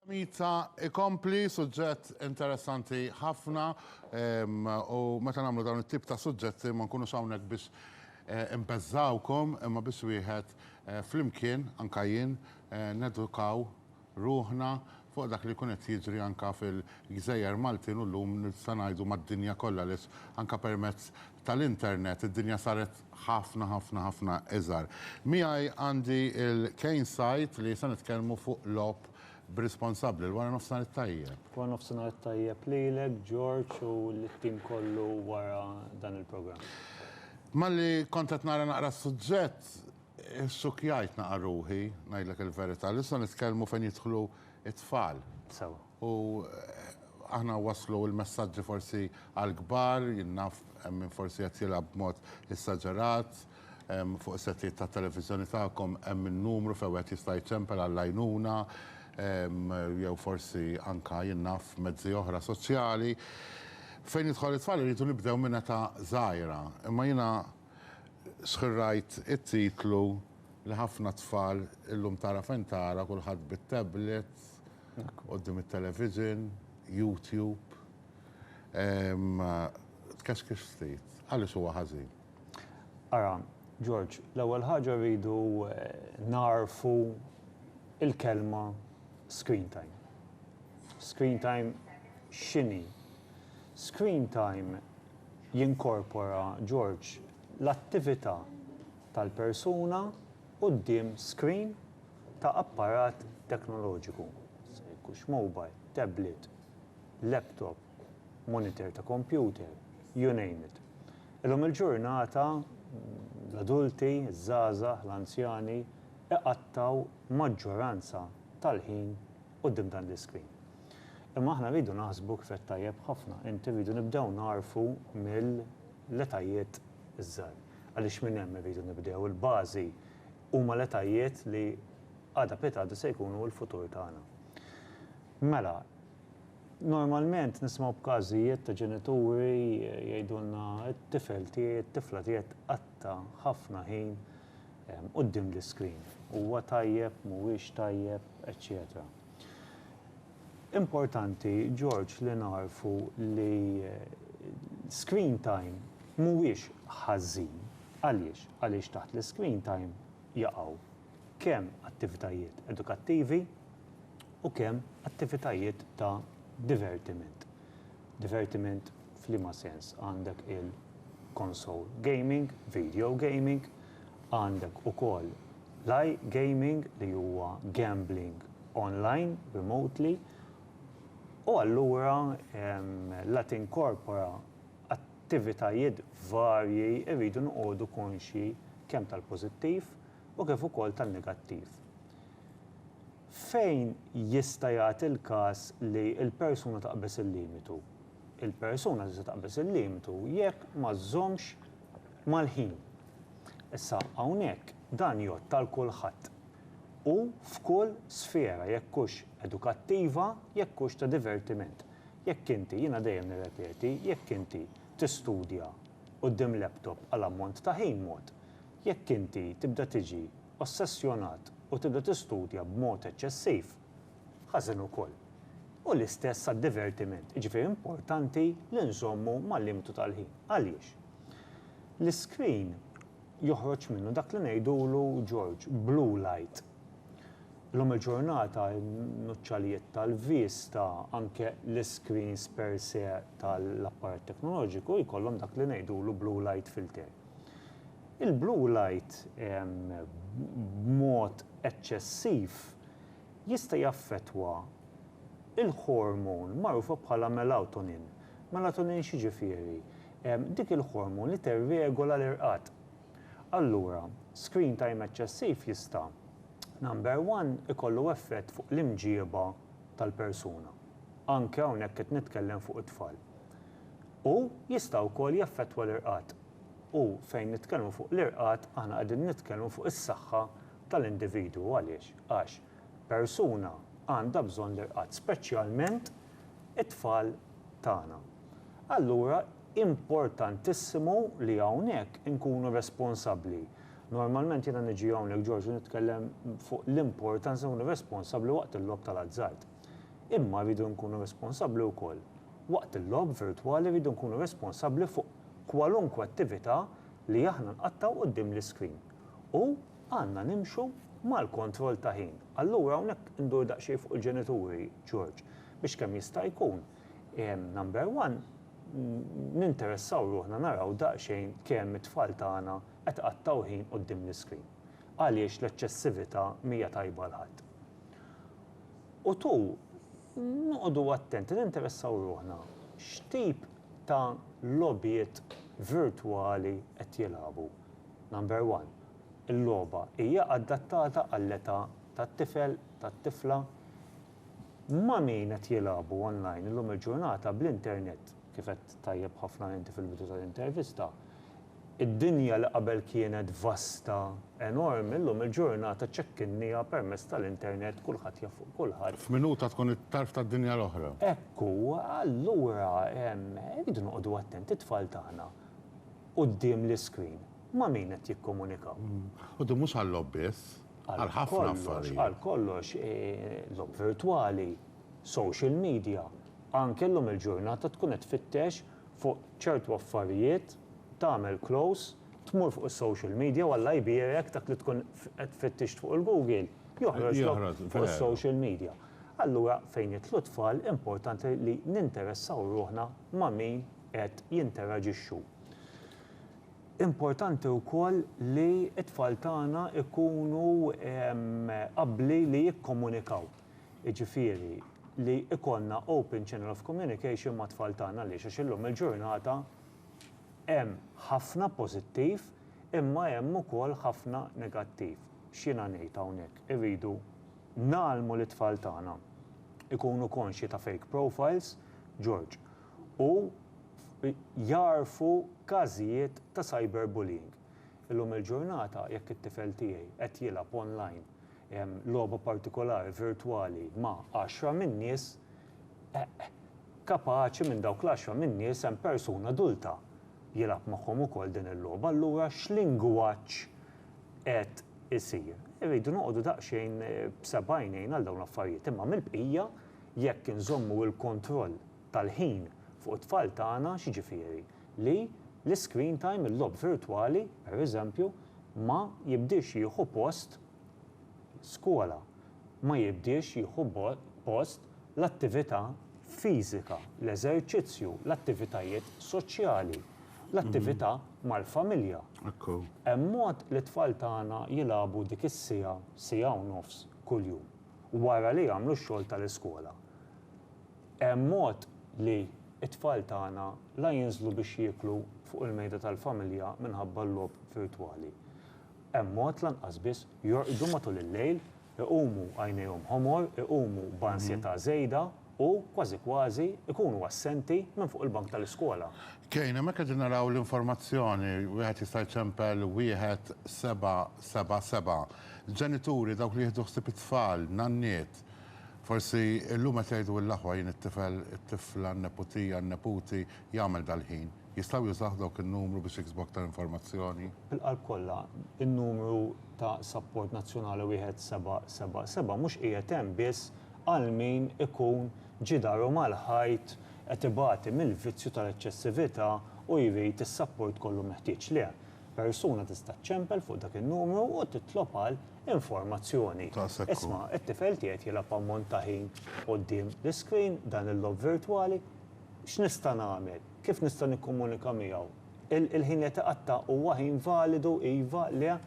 Mita ikompli, suġġett interessanti ħafna u meta nagħmlu dawn it-tip ta' suġġetti ma nkunux hawnhekk biex eh, imbeżżawkom imma biex wieħed eh, flimkien anka jien eh, nedukaw ruħna fuq dak li jkun qed jiġri anka fil-gżejjer Maltin u llum nista' ngħidu mad-dinja kollha li anka permezz tal-internet id-dinja saret ħafna ħafna ħafna iżgħar. Miegħi għandi il-Kane Site li se nitkellmu fuq logħob b'responsabbli. Il-wara nofsinhar it-tajjeb. Wara nofsinhar it-tajjeb lilek George u lit-tim kollu wara dan il-programm. Malli kont qed nara naqra s-suġġett, issukjajt naqra ruħi, ngħidlek il-verità, li se nitkellmu fejn jidħlu t-tfal. Sewwa. U aħna waslu l-messaġġi forsi għall-kbar, jien naf hemm min forsi qed jilgħab b'mod esaġerat, fuq is-settijiet tat-televiżjoni tagħkom hemm in-numru fejn wieħed jista' jċempel għall-għajnuna, jew forsi anke jien naf mezzi oħra soċjali. Fejn jidħol it-tfal irridu nibdew minn età żgħira, imma jiena sħirrajt it-titlu li ħafna tfal illum tara fejn tara kulħadd bit-tablets, Quddiem it-television, YouTube. Tkexkex ftit. Għaliex huwa ħażin? Ara, George, l-ewwel ħaġa rridu nagħrfu l-kelma screen time. Screen time x'inhi? Screen time jinkorpora, George, l-attività tal-persuna quddiem screen ta' apparat teknoloġiku, jista' jkux mobile, tablet, laptop, monitor ta' kompjuter, you name it. Illum il-ġurnata l-adulti, iż-żgħażagħ, l-anzjani iqattgħu maġġoranza tal-ħin quddiem dan l-iscreen. Imma aħna rridu naħsbu kif għedt tajjeb ħafna inti rridu nibdew nagħrfu mill-etajiet iż-żgħar. Għaliex minn hemm irridu nibdew, il-bażi Huma l-etajiet li għada pitgħada se jkunu l-futur tagħna. Mela, normalment nisimgħu b'każijiet ta' ġenituri jgħidulna t-tifel tiegħi, t-tifla tiegħi tqatta' ħafna ħin quddiem l-iscreen. Huwa tajjeb, mhuwiex tajjeb, eċċetera. Importanti George li nagħrfu li l-screen time mhuwiex ħażin. Għaliex? Għaliex taħt l-iscreen time jaqgħu kemm attivitajiet edukattivi u kemm attivitajiet ta' divertiment. Divertiment f'liema sens? Għandek il-console gaming, video gaming, Għandek ukoll l-iGaming li huwa gambling online, remotely, u allura la tinkorpora attivitajiet varji irridu noqogħdu konxji kemm tal-pożittiv u kif ukoll tan-negattiv. Fejn jista' jagħti l-każ li l-persuna taqbeż il-limitu? Il-persuna tista' taqbeż il-limitu jekk ma żżommx, Mal-ħin. Issa, hawnhekk, dan jgħodd għal kulħadd u f'kull sfera, jekk hux edukattiva, jekk hux ta' divertiment. Jekk inti, jiena dejjem nirrepeti, jekk inti tistudja quddiem laptop għal ammont ta' ħin mod, jekk inti tibda tiġi ossessjonat u tibda tistudja b'mod eċċessiv, ħażen ukoll. U l-istess għad-divertiment, jiġifieri importanti li nżommu mal-limitu tal-ħin. Għaliex? L-iskrin joħroġ minnu dak li ngħidulu, George, blue light. Illum il-ġurnata n-nuċċalijiet tal-vista, anke l-iskrins per se tal-apparat teknoloġiku jkollhom dak li ngħidulu blue light filter. Il-blue light b'mod eċċessiv jista' jaffettwa l-ħormun magħrufa bħala melatonin. Melatonin x'jiġifieri? dik il-ħormu li tirregola l-irqad. Allura, screen time eċċessiv jista', number one, ikollu effett fuq l-imġieba tal-persuna, anke hawnhekk qed nitkellem fuq it-tfal, u jista' wkoll jaffettwa l-irqad. U fejn nitkellmu fuq l-irqad aħna qegħdin nitkellmu fuq is-saħħa tal-individwu. Għaliex? Għax persuna għandha bżonn l-irqad, speċjalment it-tfal tagħna. allura importantissimu li hawnhekk inkunu responsabbli. Normalment jiena niġi hawnhekk George u nitkellem fuq l-importanza nkunu responsabbli waqt il-logħob tal-azzard. Imma rridu nkunu responsabbli wkoll waqt il-logħob virtwali rridu nkunu responsabbli fuq kwalunkwe attività li aħna nqattgħu quddiem l-iscreen. U għandna nimxu mal-kontroll ta' ħin. Allura hawnhekk indur daqsxejn fuq il-ġenituri George biex kemm jista' jkun, Number one, ninteressaw ruħna naraw daqsxejn kemm it-tfal tagħna qed iqattgħu ħin quddiem l-iscreen. Għaliex l-eċċessività m'hija tajba għal ħadd. U two, noqogħdu attenti, ninteressaw ruħna x'tip ta' logħbiet virtwali qed jilagħbu. Number one, il-logħba hija adattata għall-età tat-tifel, tat-tifla? Ma' min qed jilagħbu online illum il-ġurnata bl-internet, kif għedt tajjeb ħafna inti fil-bidu tal-intervista, id-dinja li qabel kienet vasta, enormi, illum il-ġurnata ċekkinnieha permezz tal-internet, kulħadd jaf fuq kulħadd. F'minuta tkun it-tarf tad-dinja l-oħra. Hekk hu, allura rridu noqogħdu attenti, it-tfal tagħna quddiem l-iscreen ma' min qed jikkomunikaw? Quddiem mhux għal-logħob biss. għal ħafna affarijiet. Għal kollox, logħob virtwali, social media, anke llum il-ġurnata tkun qed tfittex fuq ċertu affarijiet, tagħmel close, tmur fuq is-social media u Alla jbierek dak li tkun qed fittixt fuq il-Google joħroġlok fuq is-social media. Allura fejn jidħlu t-tfal importanti li ninteressaw ruħna ma' min qed jinteraġixxu. Importanti wkoll li t-tfal tagħna jkunu abbli li jikkomunikaw, jiġifieri li jkollna open channel of communication mat-tfal tagħna għaliex għax illum il-ġurnata hemm ħafna pożittiv imma hemm ukoll ħafna negattiv. X'jiena ngħid hawnhekk? Irridu ngħallmu lit-tfal tagħna jkunu konxji ta' fake profiles, George, u jagħrfu każijiet ta' cyberbullying. Illum il-ġurnata jekk it-tifel tiegħi qed jilgħab online logħba partikolari virtwali ma' għaxra minn nies, kapaċi minn dawk l-għaxra minn nies hemm persuna adulta jilgħab magħhom ukoll din il-logħba, allura x'lingwaġġ qed isir? Irridu noqogħdu daqsxejn b'seba' għajnejn għal dawn l-affarijiet, imma mill-bqija, Jekk inżommu l-kontroll tal-ħin fuq it-tfal tagħna, x'jiġifieri? Li l-iscreen time, il-logħob virtwali, pereżempju, ma jibdiex jieħu post skola, ma jibdiex jieħu post l-attività fiżika, l-eżerċizzju, l-attivitajiet soċjali, l-attività mal-familja. Hemm mod li t-tfal tagħna jilagħbu dik is-siegħa, siegħa u nofs kuljum? wara li jagħmlu x-xogħol tal-iskola. Hemm mod li t-tfal tagħna la jinżlu biex jieklu fuq il-mejda tal-familja minħabba l-logħob virtwali. Hemm mod lanqas biss jorqdu matul il-lejl, iqumu għajnejhom ħomor, iqumu b'ansjetà żejda. u, kważi kważi, ikunu assenti minn fuq il-bank tal-iskola. Kane, hemmhekk qegħdin naraw l-informazzjoni, wieħed jista' jċempel 1777. Ġenituri, dawk li jieħdu ħsieb it-tfal, nanniet, forsi llum qed jgħidu l-aħwa jien it-tifel, it-tifla, n-neputija, n-neputi jagħmel dal-ħin. Jistgħu jużawh dawk in-numru biex jiksbu aktar informazzjoni? Bil-qalb kollha, in-numru ta' sapport nazzjonali 1777 mhux qiegħed hemm biss għal min ikun ġie daru mal-ħajt qed ibati mill-vizzju tal-eċċessività u jrid is-sapport kollu meħtieġ lih. Persuna tista' ċċempel fuq dak in-numru u titlob għal informazzjoni. Isma' t-tifel tiegħi qed jilgħab ammont ta' ħin quddiem l-iscreen, dan il-logħob virtwali. X'nista' nagħmel? Kif nista' nikkomunika miegħu? Il-ħin li qed iqatta' huwa ħin validu, iva, le,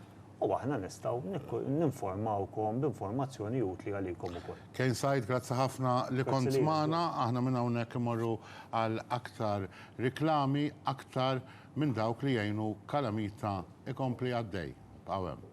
u aħna nistgħu ninformawkom b'informazzjoni utli għalikom ukoll. Kane Said, grazzi ħafna li kont magħna. Aħna minn hawnhekk immorru għal aktar riklami, aktar minn dawk li jgħinu Kalamita ikompli għaddej. Ibqgħu hemm.